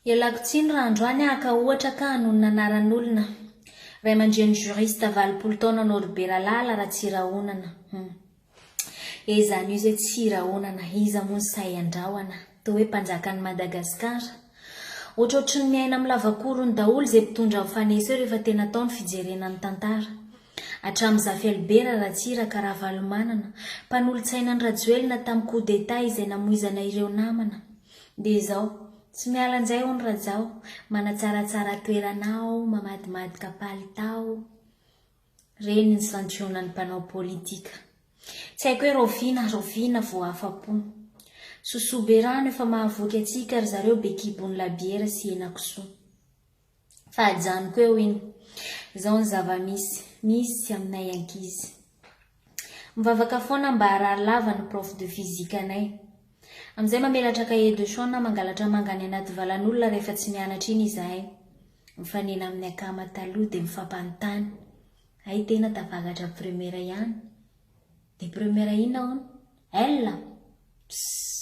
Ialako tsiny raha androany aho ka ohatra ka hanonona anaran'olona. Ray aman-dreny juriste valopolo taona anao ry Beralala raha tsy rahonana. Hum. Eh zany io zay tsy rahonana, iza moa no sahy handrahona. Toa hoe mpanjakan'i Madagascar. Ohatrohatry ny miaina amin'ny lavakorony daholo izay mpitondra ao Fanesa eo rehefa tena atao ny fijerena ny tantara. Hatramin'i Zafy Albert Ratsiraka Ravalomanana, mpanolotsaina an'i Rajoelina tamin'ny coup d'Etat izay namoizana ireo namana. Dia izao, tsy miala njay hono Rajao, manatsaratsara toerana aho, mamadmadika palitao. Reny ny santionan'ny mpanao politika. Tsy haiko hoe raoviana, raoviana vao afa-po. Sosoa be rano efa mahavoky antsika ry zareo be kibon'ny labiera sy henakisoa. Fa ajanoko eo iny. Izao ny zava-misy. Misy aminay ankizy. Mivavaka foana mba harary lava ny prof de physique anay. Amin'izay mamelatra cahier de chant na mangalatra manga any anaty valan'olona rehefa tsy mianatra iny izahay. Mifanena amin'ny akama taloha dia mifampanontany. Hay tena tafakatra première ihany. Dia première inona hono? Elle? Pssss.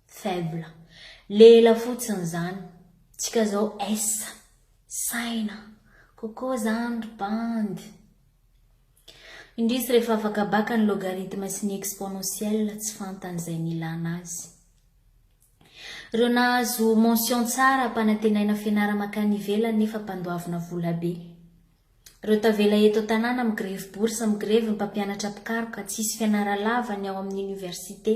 Faible. Le ela fotsiny zany. Tsika zao essa. Saina. Coco zany ry bandy. Indrisy rehefa afaka baka ny logarithme sy ny exponentielle tsy fantany izay nilana azy. Reo nahazo mention tsara mpanantenaina fianara makany ivelany nefa mpandoavina vola be. Reo tavela eto tanàna migrevy bourse migrevy ny mpampianatra mpikaroka tsisy fianara lava ny ao amin'ny université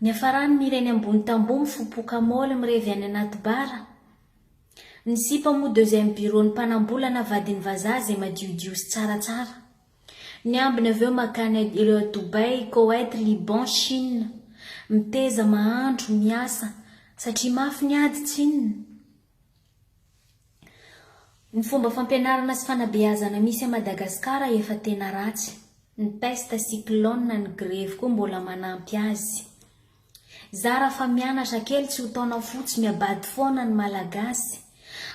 niafarany mireny ambony tamboho mifopoka moly mirevy any anaty bara ny sipa moa deuxième bureau ny mpanambola na vadin'ny vazaha zay madiodio sy tsara tsara ny ambiny avy eo makany ireo a Dubaï, Koweït, Liban, Chine miteza mahandro miasa satria mafy ny ady tsinona. Ny fomba fampianarana sy fanabeazana misy à Madagascar efa tena ratsy. Ny peste, cyclone, ny grevy koa mbola manampy azy. Zara fa mianatra kely tsy ho taona fotsy miabady foana ny malagasy.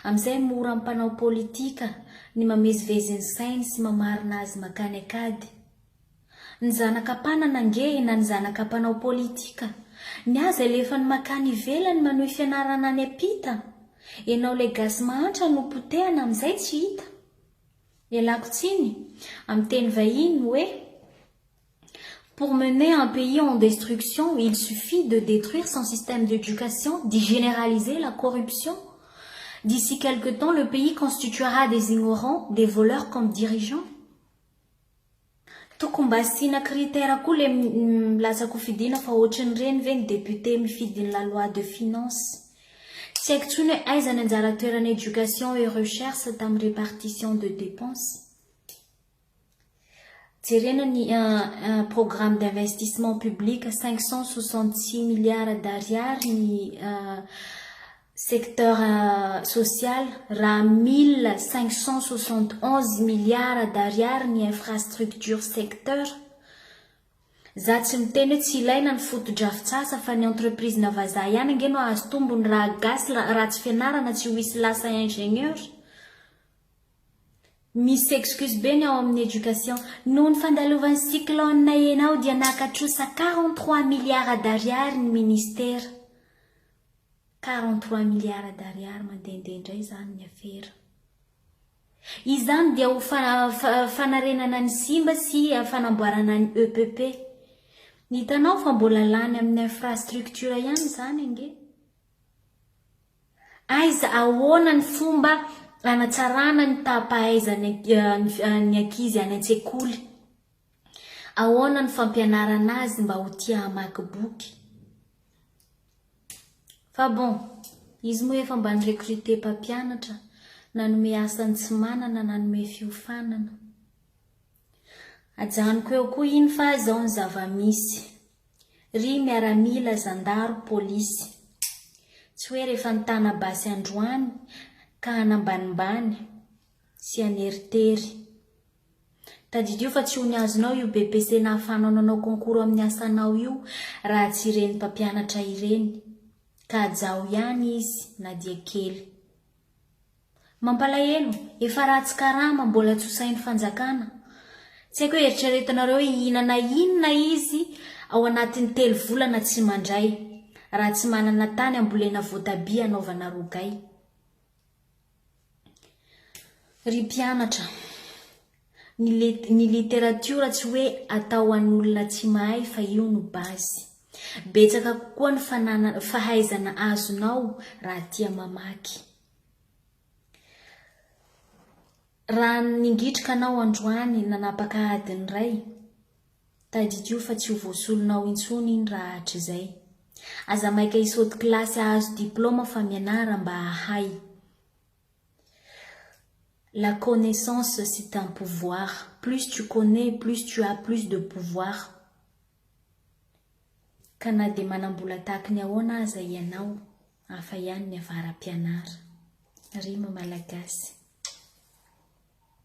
Amizay mora am mpanao politika ny mamezivezy ny sainy sy mamarina azy makany akady. Ny zanaka mpanana ange na ny zanaka mpanao politika. Ny azy alefany makany ivelany manohy fianarana any ampita. Enao ilay gasy mahantra no potehana amin'izay tsy hita. Ialako tsiny, amin'ny teny vahiny, hoe Pour mener un pays en destruction, il suffit de detruire son système d'éducation, d'y généraliser la corruption. D'ici quelque temps le pays constituera des ignorants, des voleurs comme dirigeants. Tokony mba asiana critère koa le lasa kofidina fa ohatrin'ireny ve ny député mifidy ny la loi de finance. Tsy haiko tsony hoe aiza ny anjara toeran'ny éducation et recherche tamin'ny répartition de dépenses. Jerena ny programme d'investissement public cinq cent soixante six milliards d'ariary ny secteur social raha mille cinq cent soixante onze milliards d'ariary ny infrastructure secteur za tsy miteny hoe tsy ilaina ny fotodrafitsasa fa ny entreprise na vazaha ihany ange no ahazo tombony raha gasy ratsy fianarana tsy ho hisy lasa ingenieur misy excuse be ny ao amin'ny education noho ny fandalovan'ny cyclone enao dia naka trosa quarante trois milliards d'ariary ny ministère Quarante trois milliards d'ariary mandehandeha indray izany ny afera. Izany dia ho fanarenana ny simba sy fanamboarana ny EPP. Hitanao fa mbola lany amin'ny infrastructure ihany izany ange. Aiza ahoana ny fomba hanatsarana ny taha-pahaizan'ny ankizy any an-tsekoly? Ahoana no fampianarana azy mba ho tia hamaky boky? Fa bon, izy moa efa mba ni-recruter mpampianatra, nanome asa ny tsy manana, nanome fiofanana. Ajanoko eo koa iny fa izao ny zava-misy. Ry miaramila, zandaro, polisy. Tsy hoe rehefa nitana basy androany ka hanambanimbany sy haneritery. Tadidio fa tsy ho ny azonao io BEPC nahafahanao nanao concours amin'ny asanao io raha tsy ireny mpampianatra ireny. Ka hajaho ihany izy na dia kely. Mampalahelo, efa ratsy karama, mbola tsy ho sahin'ny fanjakana. Tsy haiko hoe eritreretinareo hoe hihinana inona izy ao anatin'ny telo volana tsy mandray raha tsy manana tany ambolena voatabia hanaovana rogay. Ry mpianatra, ny li ny literatiora tsy hoe atao an'olona tsy mahay fa io no base. Betsaka kokoa ny fanana fahaizana azonao raha tia mamaky. Raha ningitrika anao androany nanapaka adiny iray, Tadidio fa tsy ho voasolonao intsony iny raha hatrizay. Aza maika hisaoty kilasy hahazo diplaoma fa mianara mba hahay. La connaissance c'est un pouvoir. Plus tu connais, plus tu as plus de pouvoir. Ka na dia manam-bola tahaky ny ahoana aza ianao, hafa ihany ny avara-pianara. Rima malagasy.